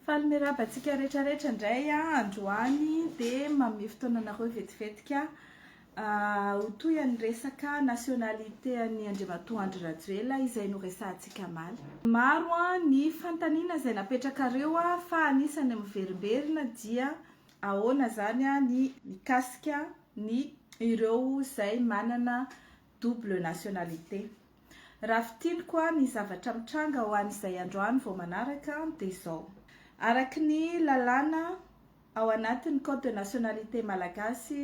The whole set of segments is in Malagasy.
Faly miraba antsika rehetra rehetra indray androany dia mamehy fotoana anareo vetivetika ah, ho toy an'ny resaka nationalité an'i Andriamatoa Andry Rajoelina izay noresahantsika maly. Maro ny fanontaniana izay napetrakareo fa anisany miverimberina dia Ahoana izany ny mikasika ny ireo izay manana double nationalité? Raha fintiniko ny zavatra mitranga ho an'izay androany vao manaraka dia izao. Araka ny lalàna ao anatin'ny code de nationalité malagasy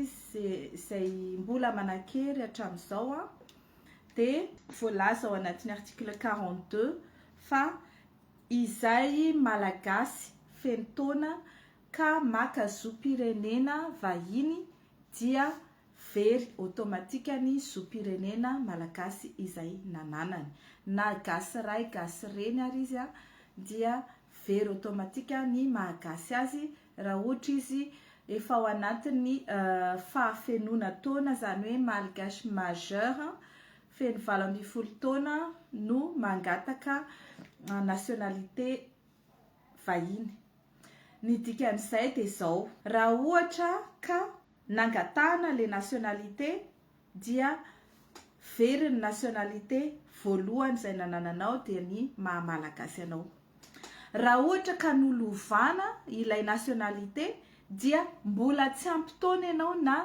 izay mbola manan-kery hatramin'izao dia voalaza ao anatin'ny article quarante deux fa izay malagasy feno taona ka maka zom-pirenena vahiny dia very automatikany zom-pirenena malagasy izay nananany, na gasy ray gasy reny ary izy an, dia very automatika ny maha gasy azy raha ohatra izy efa ao anatin'ny fahafenoana taona, izany hoe malgache majeur, feno valo ambin'ny folo taona no mangataka nationalité vahiny. Ny dikan'izay dia izao. Raha ohatra ka nangatahana le nationalité dia very ny nationalité voalohany izay nanananao dia ny maha malagasy anao. Raha ohatra ka nolovana ilay nationalité dia mbola tsy ampy taona ianao na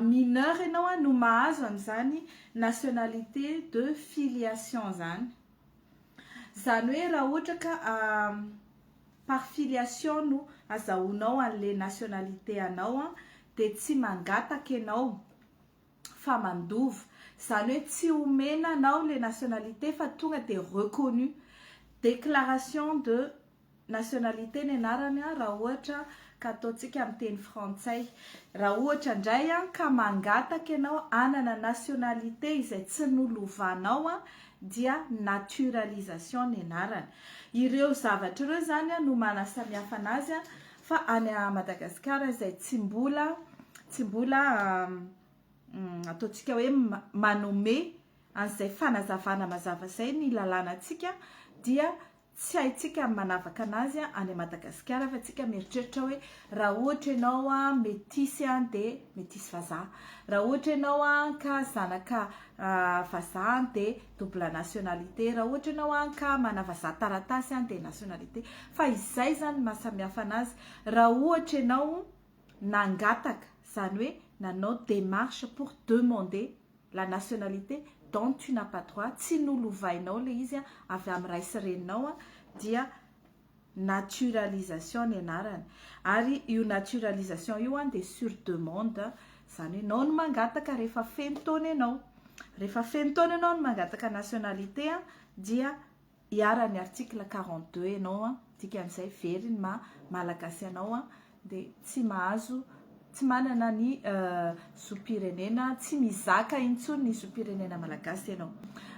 mineur ianao no mahazo an'izany nationalité de filiation izany. Izany hoe raha ohatra ka par filiation no azahoanao an'le nationalité anao dia tsy mangataka ianao fa mandova. Izany hoe tsy omena anao le nationalité fa tonga dia reconnu. Déclaration de. nationalité ny anarany raha ohatra ka ataontsika miteny frantsay. Raha ohatra indray ka mangataka ianao hanana nationalité izay tsy nolovanao dia naturalisation ny anarany. Ireo zavatra ireo izany no manasamihafa anazy fa any Madagasikara izay tsy mbola tsy mbola ataontsika hoe manome an'izay fanazavana mazava izay ny lalànantsika dia Tsy haintsika ny manavaka anazy any Madagasikara fa tsika mieritreritra hoe raha ohatra ianao metisy dia metisy vazaha, raha ohatra ianao ka zanaka vazaha dia double nationalité, raha ohatra ianao ka mana vazaha taratasy dia nationalité fa izay izany no maha samihafa anazy raha ohatra ianao nangataka izany hoe nanao démarche pour demander la nationalité dont tu n'as pas droit, tsy nolovainao le izy avy am ray sy reninao a, dia naturalisation ny anarany, ary io naturalisation io an dia sur demande, zany hoe nao no mangataka rehefa feno taona enao, rehefa feno taona enao no mangataka nationalité an dia iharan'ny article quarante deux ianao an, dikan'izay very ny maha Malagasy anao an, dia tsy mahazo, tsy manana ny zom-pirenena, tsy mizaka intsony ny zom-pirenena Malagasy ianao.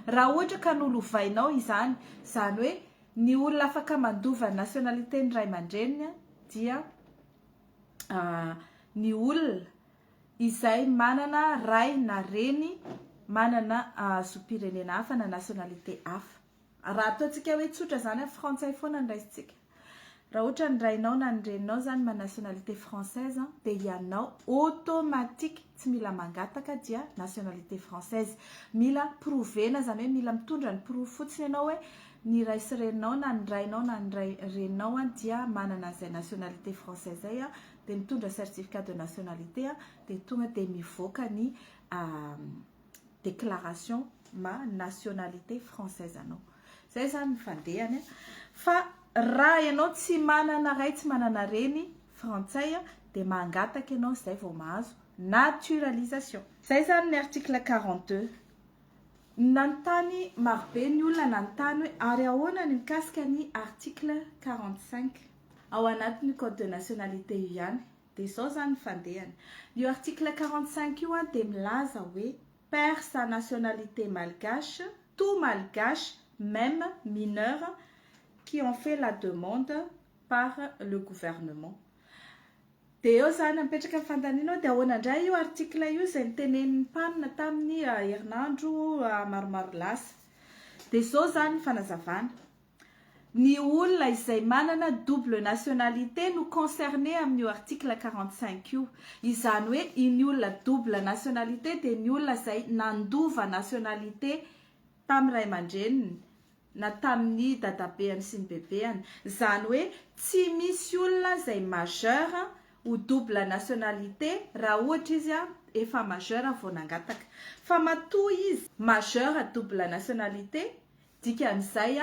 Raha ohatra ka nolovainao izany, izany hoe ny olona afaka mandova ny nationalité ny ray aman-dreniny dia ny olona, izay manana ray na reny manana zom-pirenena hafa na nationalité hafa. Raha ataontsika hoe tsotra izany, frantsay foana ny raisintsika. Raha ohatra ny rainao na ny reninao izany manana nationalité française dia ianao automatique tsy mila mangataka dia nationalité française. Mila prouver-na izany hoe mila mitondra ny porofo fotsiny ianao hoe ny ray sy reninao na ny rainao na ny reninao dia manana izay nationalité français izay dia mitondra certificat de nationalité dia tonga dia mivoaka ny déclaration ma nationalité française anao zay zany ny fandehany fa raha ianao tsy manana ray tsy manana reny frantsay dia mangataka ianao zay vao mahazo naturalisation zay zany ny article 42 nanontany marobe ny olona nanontany hoe ary ahoana ny mikasika ny article 45 Ao anatin'ny code de nationalité io ihany dia izao izany ny fandehany. Io article quarante cinq io dia milaza hoe perd sa nationalité malgache tout malgache meme mineur qui en fait la demande par le gouvernement. Dia eo izany mipetraka ny fanontaniana hoe dia ahoana indray io article io izay nitenenin'ny mpanina tamin'ny herinandro maromaro lasa. Dia izao izany ny fanazavana. Ny olona izay manana double nationalité no concerné amin'io article quarante cinq io. Izany hoe iny olona double nationalité dia ny olona izay nandova nationalité tamin'ny ray aman-dreniny na tamin'ny dadabeany sy ny bebeany. Izany hoe tsy misy olona izay majeur ho double nationalité raha ohatra izy efa majeur vao nangataka. Fa matoa izy majeur double nationalité Dikan'izay,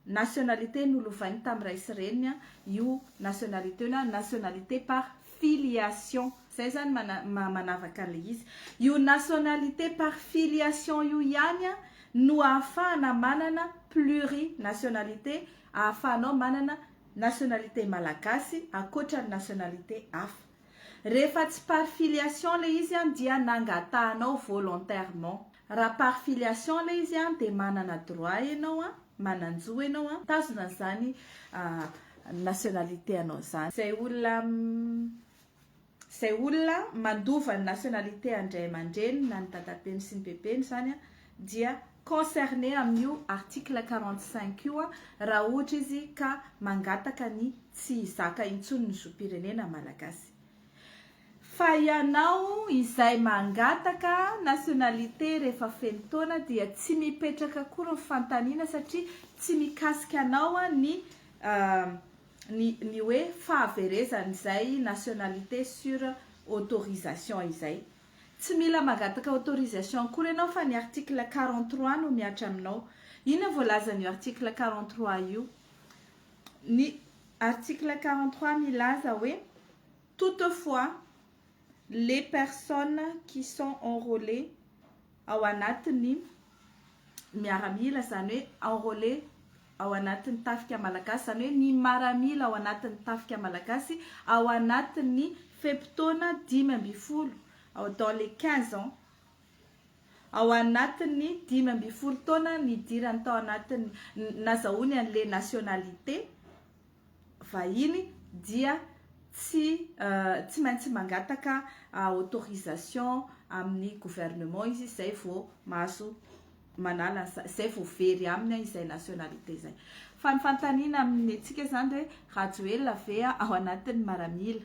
nationalité nolovainy tamin'ny ray sy reniny io nationalité io na nationalité par filiation. Izay izany maha manavaka an'ilay izy. Io nationalité par filiation io ihany no ahafahana manana plurinationalité, ahafahanao manana nationalité malagasy ankoatra ny nationalité hafa. Rehefa tsy par filiation ilay izy dia nangatahanao volontairement. Raha par filiation ilay izy an, dia manana droit ianao an, manan-jo ianao an, mitazona an'izany nationalité anao izany. Izay olona izay olona mandova ny nationalité an-dray aman-dreniny na ny dadabeny sy ny bebeny izany an, dia concerné amin'io article quarante cinq io an, raha ohatra izy ka mangataka ny tsy hizaka intsony ny zom-pirenena malagasy. Fa ianao izay mangataka nationalité rehefa feno taona dia tsy mipetraka akory ny fanontaniana satria tsy mikasika anao ny ny ny hoe fahaverezan izay nationalité sur autorisation izay. Tsy mila mangataka autorisation akory ianao fa ny article quarante trois no mihatra aminao. Inona voalazan'io article quarante trois io? Ny article quarante trois milaza hoe toutefois les personnes qui sont enrôlées ao anatin'ny miaramila, izany hoe enrôlé ao anatin'ny tafika malagasy, izany hoe ny maramila ao anatin'ny tafika malagasy ao anatin'ny fe-potoana dimy ambin'ny folo, dans les quinze ans. Ao anatin'ny dimy ambin'ny folo taona nidirany tao anatin'ny nazahoany an'ilay nationalité vahiny dia tsy tsy maintsy mangataka autorisation amin'ny gouvernement izy izay vao mahazo manala izay vao very aminy izay nationalité izay. Fa ny fanontaniana amin'ny antsika izany hoe Rajoelina ve ao anatin'ny maramila?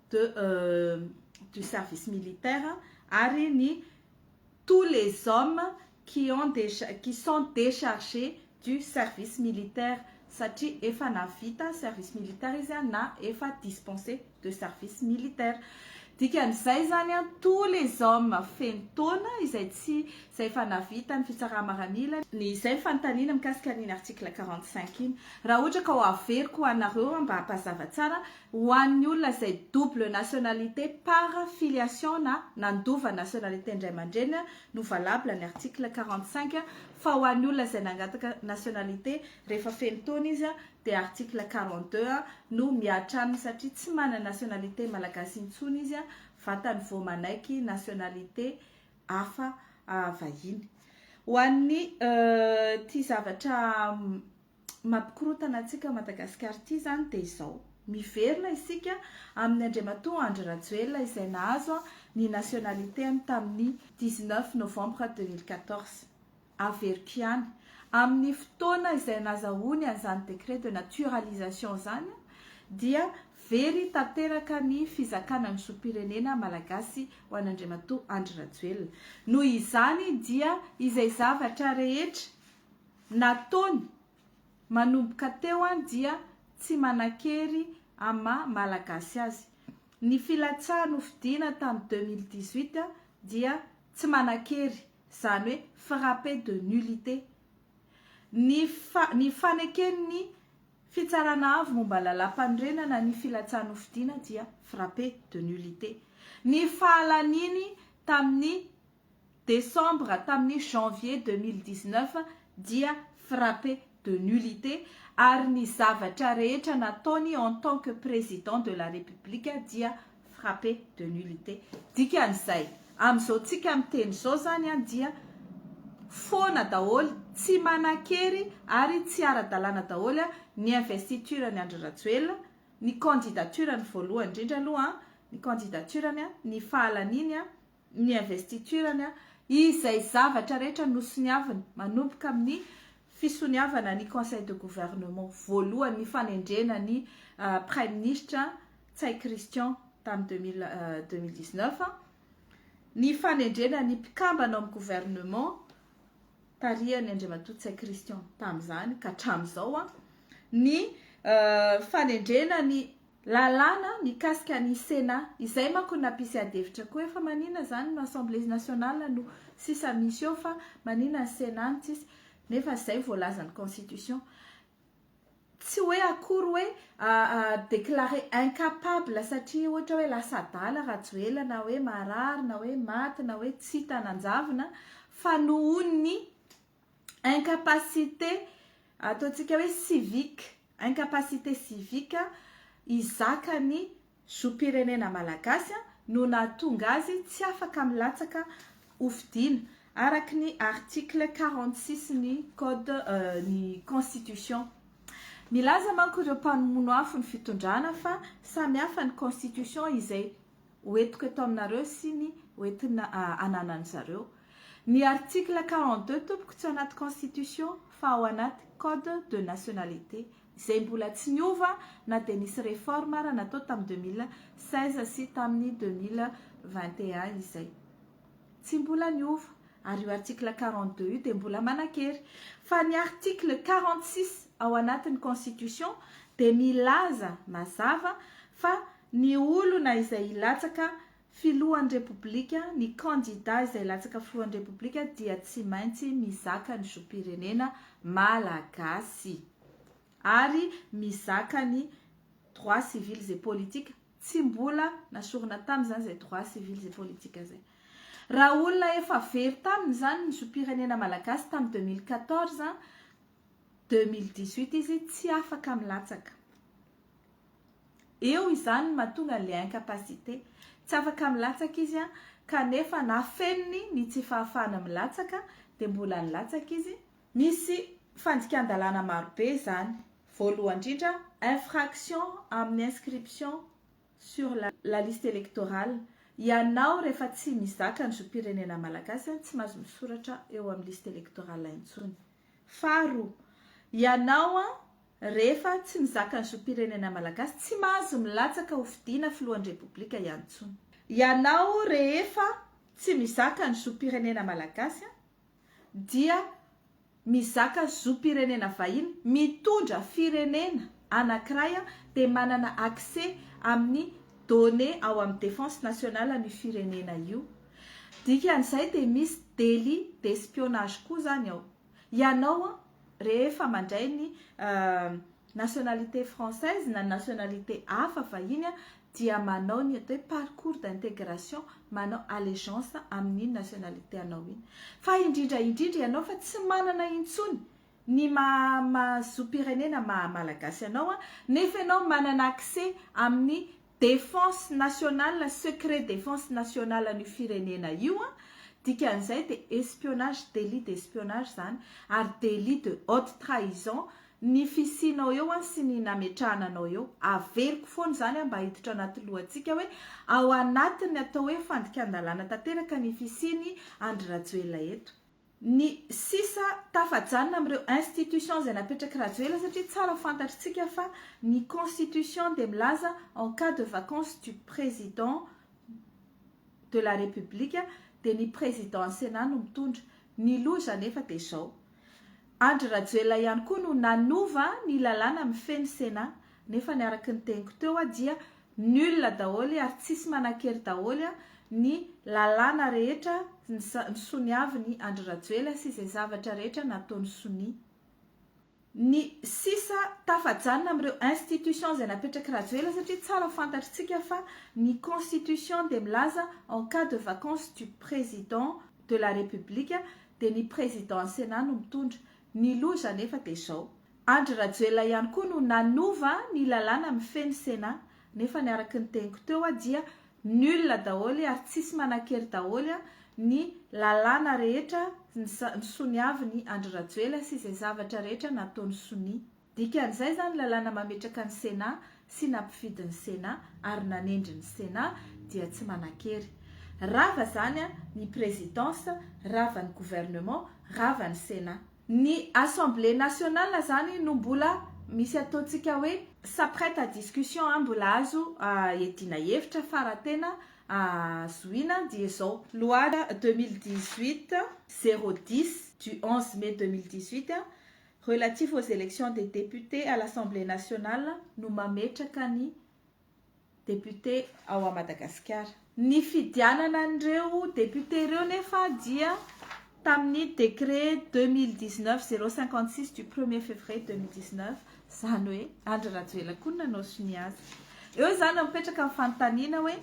de du service militaire ary ny tous les hommes qui ont qui sont decharges du service militaire satria efa navita service militaire izy na efa dispense de service militaire dikan'izay zany a tous les hommes feno taona izay tsy izay efa navita ny fitsaramaranila ny izay ny fanontaniana mikasika an'iny article quarante cinq iny raha ohatra ka ho averiko ho anareo mba hampazava tsara Ho an'ny olona izay double nationalité par filiation na nandova nationalité ny ray aman-dreny no valable ny article quarante cinq fa ho an'ny olona izay nangataka nationalité rehefa feno taona izy dia article quarante deux no mihatra aminy satria tsy manana nationalité malagasy intsony izy vatany vao manaiky nationalité hafa vahiny. Ho an'ny ity zavatra mampikorontana antsika ao Madagasikara ity izany dia izao, miverina isika amin'i Andriamatoa Andry Rajoelina izay nahazo ny nationalité-ny tamin'ny dix neuf novembre deux mille quatorze. Averiko ihany, amin'ny fotoana izay nazahoany an'izany décret de naturalisation izany dia very tanteraka ny fizakana ny zom-pirenena malagasy ho an'Andriamatoa Andry Rajoelina. Noho izany dia izay zavatra rehetra. Nataony. Manomboka teo an dia tsy manakery am maha malagasy azy. Ny filatsaha nofidiana tam deux mille dix huit dia tsy manakery, zany hoe frappe de nullité. Ny fa ny faneken ny Fitsarana avo momba Lalampanorenana ny filatsaha nofidiana dia frappe de nullité. Ny fahalaniany tamin ny desambra tamin'ny janvier deux mille dix-neuf dia frappé de nullité ary ny zavatra rehetra nataony en tant que président de la République dia frappé de nullité. Dikan'izay, amin'izao tsika miteny izao izany dia foana daholo, tsy manan-kery ary tsy ara-dalàna daholo ny investiture an'i Andry Rajoelina, ny candidature-ny voalohany indrindra aloha, ny candidature-ny, ny fahalaniany ny investiture-ny, izay zavatra rehetra nosoniaviny, manomboka amin'ny fisoniavana ny Conseil de Gouvernement voalohany, ny fanendrena ny Praiminisitra Ntsay Christian tamin'ny deux mille deux mille dix neuf, ny fanendrena ny mpikambana ao amin'ny Gouvernement tarihan'i Andriamatoa Ntsay Christian tamin'izany ka hatramin'izao, ny fanendrena ny Lalàna mikasika ny Sénat. Izay manko no nampisy adihevitra koa hoe fa manina izany no Assemblée nationale no sisa misy eo fa manina ny Sénat no tsisy. Nefa izay no voalazan'ny Constitution. Tsy hoe akory hoe déclaré incapable satria ohatra hoe lasa adala Rajoelina na hoe marary na hoe maty na hoe tsy hita nanjavona fa nohon'ny incapacité ataontsika hoe civique, incapacité civique hizaka ny zom-pirenena malagasy no nahatonga azy tsy afaka milatsaka hofidiana araka ny article quarante six ny code ny constitution. Milaza manko ireo mpanomono afo ny fitondrana fa samy hafa ny constitution izay ho entiko eto aminareo sy ny ho entina ananan'ny zareo. Ny article quarante deux tompoko tsy ao anaty constitution fa ao anaty code de nationalité izay mbola tsy niova na dia nisy reforme ara natao tamin'ny deux mille seize sy tamin'ny deux mille vingt et un izay. Tsy mbola niova ary io article quarante deux io dia mbola manan-kery. Fa ny article quarante six ao anatin'ny constitution dia milaza mazava fa Ny olona izay hilatsaka Filohan'ny Repoblika, ny kandida izay hilatsaka Filohan'ny Repoblika dia tsy maintsy mizaka ny zom-pirenena Malagasy ary mizaka ny droits civils et politiques. Tsy mbola nasorina tamin' izany izay droits civils et politiques izay. Raha olona efa very tamin' izany ny zom-pirenena Malagasy tamin'ny deux mille quatorze, deux mille dix-huit izy tsy afaka milatsaka. Eo izany no mahatonga an'ilay incapacité. Tsy afaka milatsaka izy an, kanefa na feniny ny tsy fahafahana milatsaka dia mbola nilatsaka izy. Misy fandikan-dalàna marobe izany. Voalohany indrindra, infraction amin'ny inscription sur la liste électorale. Ianao rehefa tsy mizaka ny zom-pirenena malagasy an, tsy mahazo misoratra eo amin'ny liste électorale intsony. Faharoa, ianao an, Rehefa tsy mizaka ny zom-pirenena malagasy, tsy mahazo milatsaka ho fidiana filohan'ny Repoblika ihany intsony. Ianao rehefa tsy mizaka ny zom-pirenena malagasy dia mizaka zom-pirenena vahiny, mitondra firenena anankiray dia manana accès amin'ny données ao amin'ny Défense Nationale an'io firenena io. Dikan'izay dia misy délit d'espionnage koa izany ao. Ianao an, rehefa mandray ny nationalité française na nationalité hafa vahiny an, dia manao ny atao hoe parcours d'intégration, manao allégeance amin'iny nationalité anao iny. Fa indrindra indrindra ianao fa tsy manana intsony ny maha-zo-pirenena maha-malagasy anao an, nefa ianao manana accès amin'ny Défense nationale, secret défense nationale an'io firenena io an, dikan'izay dia espionnage, délit d'espionnage izany ary délit de haute trahison ny fisianao eo an sy ny nametrahana anao eo, averiko foana izany an mba hiditra anaty lohantsika hoe ao anatin'ny atao hoe fandikan-dalàna tanteraka ny fisian'i Andry Rajoelina eto. Ny sisa tafajanona amin'ireo institutions izay napetrak'i Rajoela satria tsara fantatritsika fa ny constitution dia milaza en cas de vacance du président de la République dia ny président ny Sénat no mitondra. Ny loza anefa dia izao. Andry Rajoelina ihany koa no nanova ny lalàna mifehy ny Sénat nefa ny araky ny teniko teo dia Nul daholo ary tsisy manankery daholo ny lalàna rehetra ny soniaviny Andry Rajoela sy izay zavatra rehetra nataony sonia. Ny sisa tafajanona amin'ireo institutions izay napetrak'i Rajoela satria tsara fantatritsika fa ny constitution dia milaza en cas de vacance du président de la République dia ny président Sénat no mitondra. Ny loza anefa dia izao. Andry Rajoelina ihany koa no nanova ny lalàna mifehy ny Sénat, nefa ny araky ny teniko teo dia nul daholo ary tsisy manankery daholo ny lalàna rehetra nisoniavin'i Andry Rajoelina sy izay zavatra rehetra nataony sonia. Dikan'izay izany lalàna mametraka ny Sénat sy nampifidy ny Sénat ary nanendry ny Sénat dia tsy manankery. Rava izany ny présidence, rava ny gouvernement, rava ny Sénat. Ny assemblée nationale zany no mbola misy ataontsika hoe ça prête à discussion an, mbola azo iadiana hevitra fa raha tena zohiana dia izao. Loi deux mille dix-huit zéro dix du onze mai deux mille dix-huit relatif aux élections des députés à l'Assemblée nationale no mametraka ny député ao à Madagasikara. Ny fidianana an'ireo député ireo nefa dia tamin'ny décret deux mille dix neuf zéro cinquante six du premier février deux mille dix neuf, izany hoe Andry Rajoelina koa no nanao sonia azy. Eo izany no mipetraka ny fanontaniana hoe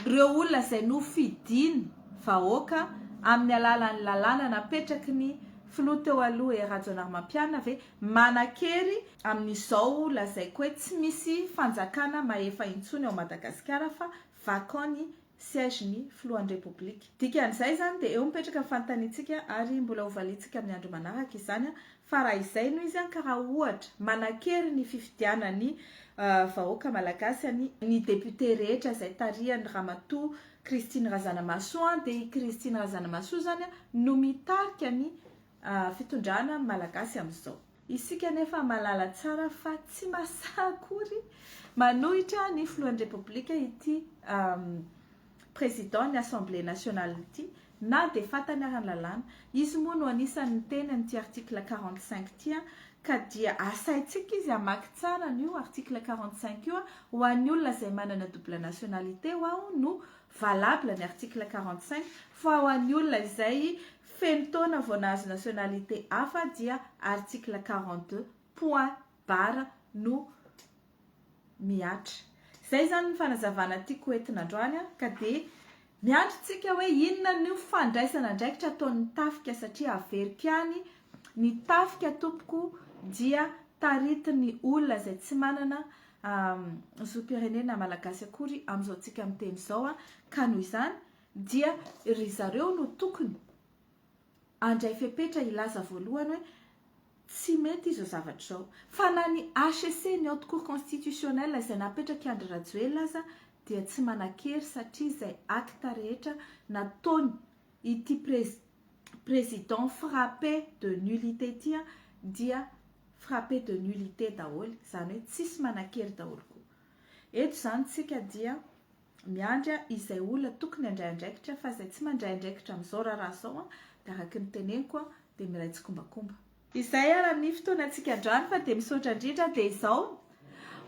ireo olona izay nofidin'ny vahoaka amin'ny alalan'ny lalàna napetraky ny filoha teo aloha Rajaonarimampianina ve Manan-kery amin'izao lazaiko hoe tsy misy fanjakana mahefa intsony ao Madagasikara fa vacant ny siège ny filohan'ny Repoblika. Dikan'izay izany dia eo mipetraka ny fanontaniantsika ary mbola hovaliantsika amin'ny andro manaraka izany fa raha izay no izy ka raha ohatra manan-kery ny fifidianan'ny vahoaka Malagasy an'i ny député rehetra izay tarihan'i Ramatoa Christine Razanamahasoa dia i Christine Razanamahasoa izany no mitarika ny fitondrana ny Malagasy amin'izao. Isika anefa mahalala tsara fa tsy mahasaha akory manohitra ny filohan'ny Repoblika ity Président ny Assemblée Nationale ity na dia fantany ara ny lalàna. Izy moa no anisan'ny niteny an'ity article quarante cinq ity ka dia asaintsika izy hamaky tsara an'io article quarante cinq io. Ho an'ny olona izay manana double nationalité ho'aho no valable ny article quarante cinq fa ho an'ny olona izay Feno taona vao nahazo nationalité hafa dia article quarante deux, point barre no mihatra. Izay izany ny fanazavana tiako ho entina androany ka dia miandry tsika hoe inona no fandraisana andraikitra ataon'ny tafika satria averiko ihany ny tafika tompoko dia taritin'ny olona izay tsy manana zom-pirenena malagasy akory amin'izao tsika miteny izao ka noho izany Dia ry zareo no tokony handray fepetra hilaza voalohany hoe tsy mety izao zavatra izao. Fa na ny HCC, ny Haute Cour Constitutionnelle, izay napetrak'i Andry Rajoelina aza dia tsy manan-kery satria izay acte rehetra nataony ity Président frappé de nullité ity dia frappé de nullité daholo, izany hoe tsisy manan-kery daholo koa. Eto izany tsika dia Miandry izay olona tokony handray andraikitra fa izay tsy mandray andraikitra amin'izao raharaha izao dia araka ny teneniko dia miray tsikombakomba. Izay ary amin'ny fotoanantsika androany fa dia misaotra indrindra dia izao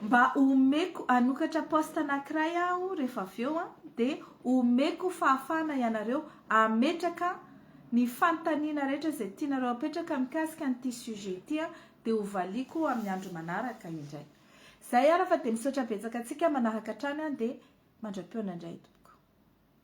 mba omeko hanokatra poste anankiray aho rehefa avy eo dia omeko fahafahana ianareo hametraka ny fanontaniana rehetra izay tianareo hapetraka mikasika an'ity sujet ity dia hovaliako amin'ny andro manaraka indray. Zay ara fa de misaotra betsaka antsika manaraka hatrany an de mandram-peona indray tompoko.